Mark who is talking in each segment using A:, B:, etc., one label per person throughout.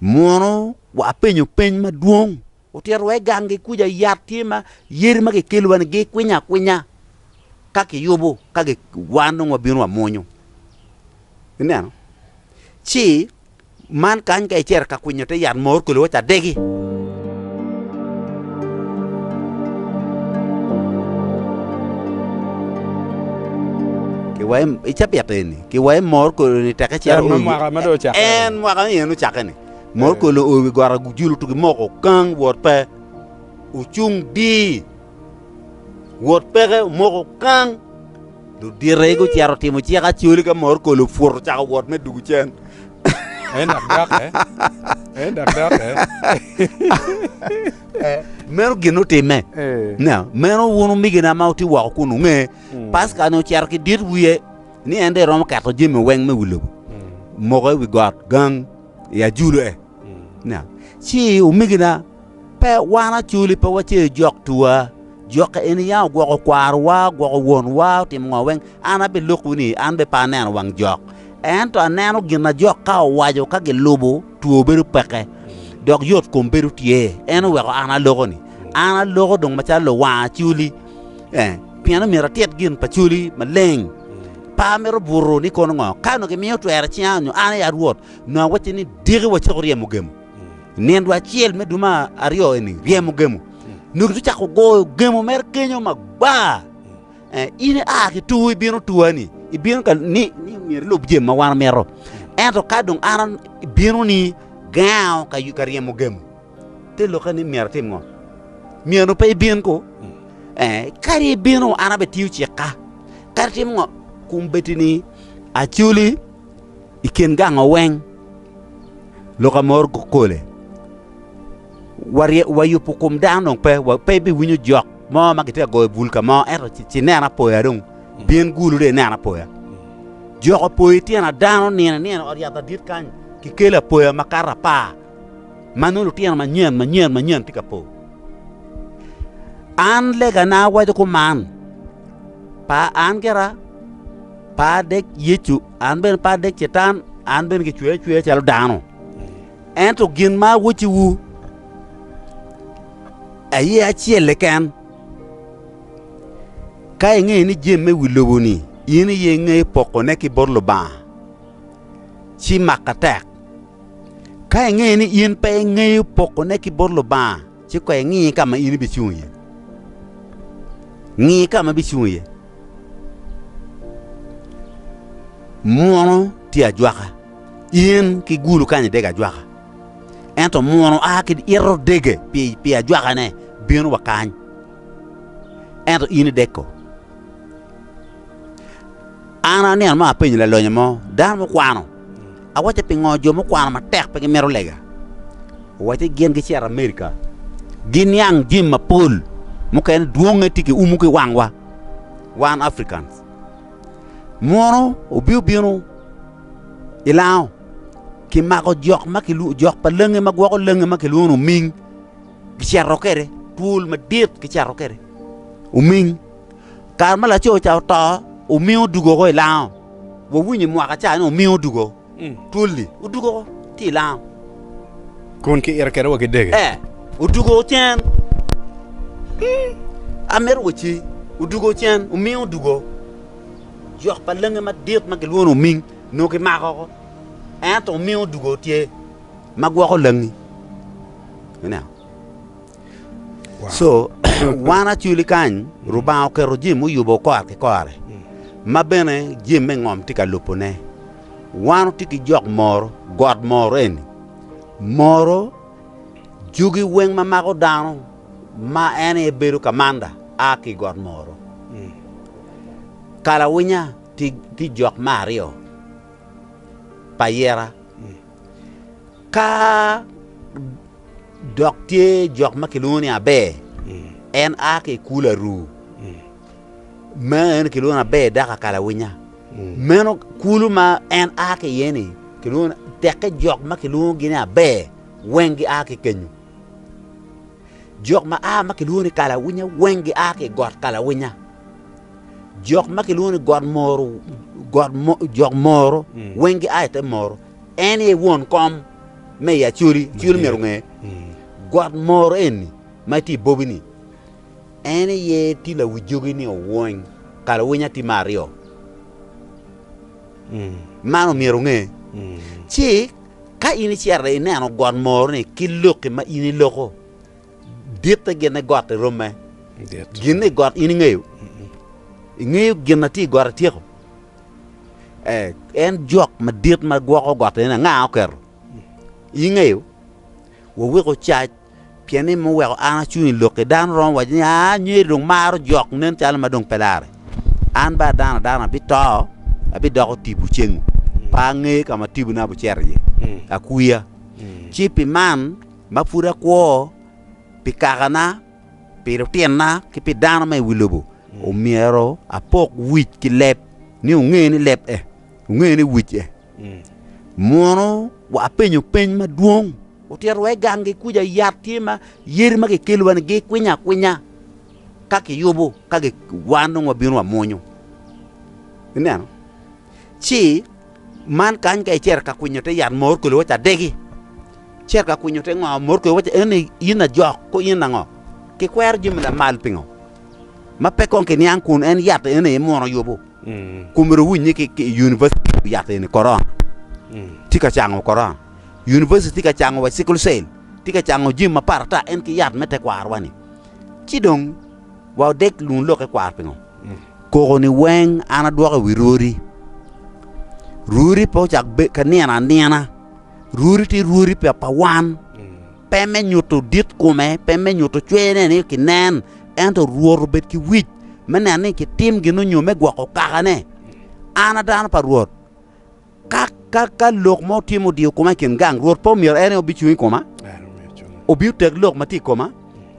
A: Mono wapenyo peny madwong? Otito wa i ganggi kuca yat tye ma yadi ma gikelo wa ni gikwinyo akwinya ka kiyubo ka wan dong wabino wamwonyo. Ineno? Ci man kany ka icito ka kwinyo te yat mo okelo wa ca degi. Wa i cabit eni Ki wa i mor kolo ni teke cito o wi en mwaka ni en ocake ni. Mor kolo o wi got agujulu tugi moko kang wot pe ocung dii. Wot peke omoko kang ludite i gucero timo cik acoli ka mor kolo pwot ocako wot me dugu cen. En dak doke. En dak doke. Meno gin otime. Na, meno wun omigina ma uti woko kun unge. Paska ni ocero ki dit wiye. ni en dong eromo keto jami weng me wi lobo moko i wi got gang i ajule. Na, ci omegina, pe wan acoli pe wace jok tuwa, jok ka eni ya ogwoko kwarowa, ogwoko wonwa, otimo ngo weng, an abilokowu ni an be pe aneno wang jok. Ento aneno gin na jok ka owaco ka gilubo Two bedo peke, dok yot kom bedo tye. En oweko an aloko ni, An aloko dong macalo luwang acoli, eh, pien omyero atit gin pa coli maleng. Pa mito buto ni kono ngo, ka onongo gimiyo twer icinga nyo an aye arwot, nongo awacci ni diki wacako ryemo gemo. Nindo acel me dwe ma aryo eni, ryemo gemo. Nongo gicako goyo gemo mere kenyo magwar. In ia ki tur ibino tua-ni, ibino ka ni myero ilub jami ma wan wamito. Ento ka dong an abino-ni, gengo ka ryemo gemo. Te lokke ni myero atim ngo? Myero pe ibin ko? Kadi ibino, an abitiyo cikka. Kadi tim ngo? Kum betini acoli i kin gango weng, lok amor gukole. Warye, wayubo kom dano dong pe, wa pe ibiwinyo jok mo ma gitye ka goyo bul ka mo, ento ci, ci neno apoya dong, bin gulu dong ineno apoya. Jok opoyo i tyen adano nino nino i ot yat adit kany, kikelo apoya ma kato apar, ma nongo lutino manyen manyen manyen tye ka po. An legana awaco kuman, pa an gira, pe adek Yecu, an bene pe adek Catan, an bene kicweya acweya calo dano. Ento gin ma awacciwu aye acel keken, Ka ingeyo ni jami me wi lobo-ni in aye ingeyo pokone ki bot Lubanga, ci mak atek. Ka ingeyo ni in pe ingeyo pokone ki bot Lubanga, ci koy ingi ka ma in ibicung iye. Ngi ka ma ibicung iye. Munu tye ajwaka. In ki gulu kany idego ajwaka, ento muno a ki ito dege pi ajwakane bino wa kany, ento in ideko. An anino ma apenyo lalonyo mo, dano mukwano, awacce pingo jo mukwano matek pe gimito lega? Owacce gin gicito Amerika, giniang jami mapol, mukene dwonge tye ki umu ki wangwa, wan Africans. Munu wubino bino i lango, kimako jok ma kilwongo jok pa langi ma gwoko langi ma kilwongo ni oming, kiceto kwede twol madit kiceto kwede oming. Kare ma laco ca oto, oming odwogo oko i lango, wawinyo mwaka ca ni oming odwogo. twol-li, odugo ki i lam, kun ki ito kwede wa ki dege, ee, odugo ocen, amito wa ci, odugo ocen, oming odugo, jok pa langi madit ma gilwongo ni oming nongo kimako woko, ento oming odugo tye ma gwoko langi. Co, wan acwili kany, Lubanga oketo jami muyubo kore ki kore, ma bene jami me ngom tye ka lubone. Wan watye ki jok moro, got moro eni, moro jugi weng ma mako dano, ma en aye bedo kamanda, a ki i got moro. Kalawinya tye jok me aryo pa yera, Ka dok tye jok ma kilwongo ni Aber, en a ki i kulu aru, ma en kilwongo ni Aber dako akalawinya. Meno kulu ma en a ki iye-ni, tekke jok ma kilwongogi ni Aber weng gia ki kenyu. Jok ma a ma kilwongo ni kalawinya weng gia ki i got kalawinya. Jok ma kilwongo ni got moro, got mo, jok moro mm. weng gia i te moro. En ye won kom me i acoli, acoli myero ngeye. Mm. Got moro eni ma ti bobi ni, en ye ti lawi jogi ni owony, kalawinya ti ma aryo. Man omyero onge, ci ka in icito ineno got moro-ni ki loki ma in iloko, ditte gin ni gotti romme. Gin ni got in ingeyo? Ingeyo gin ma tye i got atyeko? Eh, en jok madit ma gwoko gotti-ni anga oketo? Ingeyo? Waweko cac. Pien ni mo weko an acung i lokki, dano romo waco ni, 'Aa, nyeri dong maro jok, nen calo ma dong pe lare. An bene dano adana abito, abidoko tipo cengu, pe angeyo ka ma tibona bicito iye. Akwiya! Ci pi man ma pud akwo pi kakana, pi lutinna, ki pi dano ma i wi lobo, omyero apok wic ki leb, ni onge ni leb e, onge ni wic e. Munu wapenyo peny madwong. Otito wa i gangi kuca yat tye ma yadi ma kikelo wa ni gikwinyo akwinya ka kiyubo ka wan dong wabino wamwonyo. Ineno? Ci man kany ka icer ka kwinyo te yat mor kelo waca degi. Cer ka kwinyo te ngo mor kelo waca eni in ajok ko in ango. Kikwero jami lamal pingo? Ma pe kong kiniang kun en yat eni imwono yubo. Kun myero wuwiny ni univaciti ki yato eni korona tye ka cango korona. Univaciti tye ka cango wa cikul cel, tye ka cango jami mapat ata en ki yat me tekwarwa-ni. Ci dong wa odeg lun lok ekwar pingo? Koko-ni weng an adwoko i wi rwodi. Rwodi pe ocako ka nino anina, rwodi tye rwodi pa wan. Pe me nyuto dit kome, pe me nyuto cweyone ni kinen, ento Rwot obed ki wic me neno ni kitim gin onyo me gwoko kakane. An a dano pa Rwot, ka, ka, ka lok mo tye ma odiyo koma i kin gang, Rwot pe omyero en aye obicung i koma? Obiyo tek lok ma tye i koma?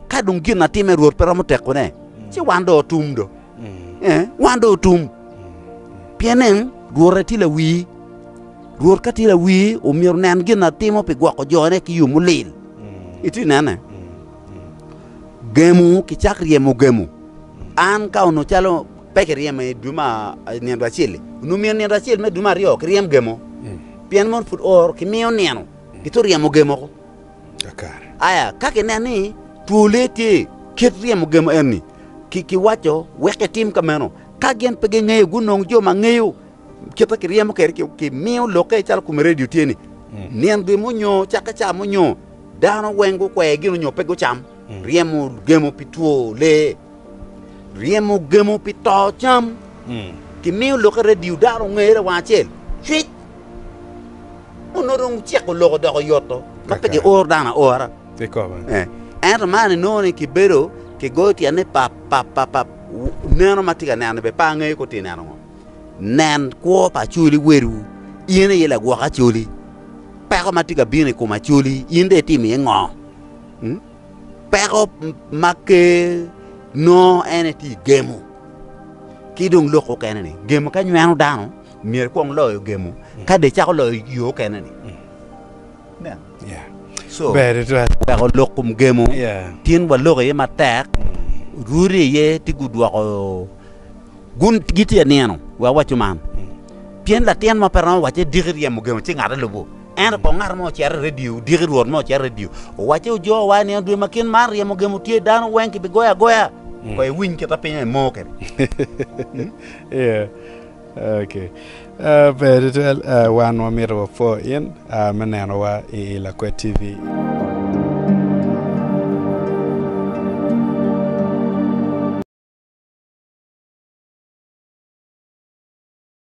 A: Ka dong gin atimme Rwot pe romo tekone, ci wan dong otum do. wan dong otum. Pien nen, Rwot aye tye lawii. Rwot ka tye lawii, omyero onen gin atimo pi gwoko jone ki yo mulil. Itye ka nene? Gemu kicak ryemo gemu. An ka onongo calo pe kiryema i dwe nino acel-li, onongo myero nino acel me dwe me aryo kiryem gemo. Pien mono pud oro kimiyo nino, kitwero ryemo gemo. kakare. Aya, ka kineno ni two lee tye, kit ryemo gemo enni, ki, kiwaco wek etim ka meno. Ka gin pe gingeyo, gunong jo ma ngeyo kite kiryemo kede, ki, kimiyo lokke calo kome radio tye ni, nino gemo nyo cake ca mo nyo dano weng gukwe gino nyo pe gucam ryemo gemo pi two lee. Ryemo gemo pi to cam. Kimiyo lokke redio daro ngere wang acel cwic. Onongo dong ciko loko doko yoto ma pe gioro dano aora. Ento man inongo ni kibedo kigoyo tyen ni pap pap pap pap neno ma tye ka neno-ni bene pe angeyo kor tye neno ngo. Nen kwo pa Acholi wadu, in aye lagwok Acholi, peko ma tye ka bino i kom Acholi in dong itimo iye ngo? Peko ma Ker nongo en aye tye gemo ki dong lok mukene ni gemo ka nyweno dano myero ekwong loyo gemo ka dong ecako loyo yo mukene ni. So weko lok kom gemo tin walok iye matek rwode iye tye gudwoko gun gitye ka nino wek waco man pien latin mo pe romo wace diki ryemo gemo ci ngate lubo. Ento kong ngat mo ocer i redio, odiki Rwot mo ocer i redio, owacce ojoo wa i nino dwe ma kit man, ryemo gemo tye, dano weng kibigoyo agoya. Koy iwiny kit ma piny aye moo kede. Yeah. Okay. Ah, ber tutwal. Ah, wan wamito wapwo in ah, me nenowa i i Lakwet TV.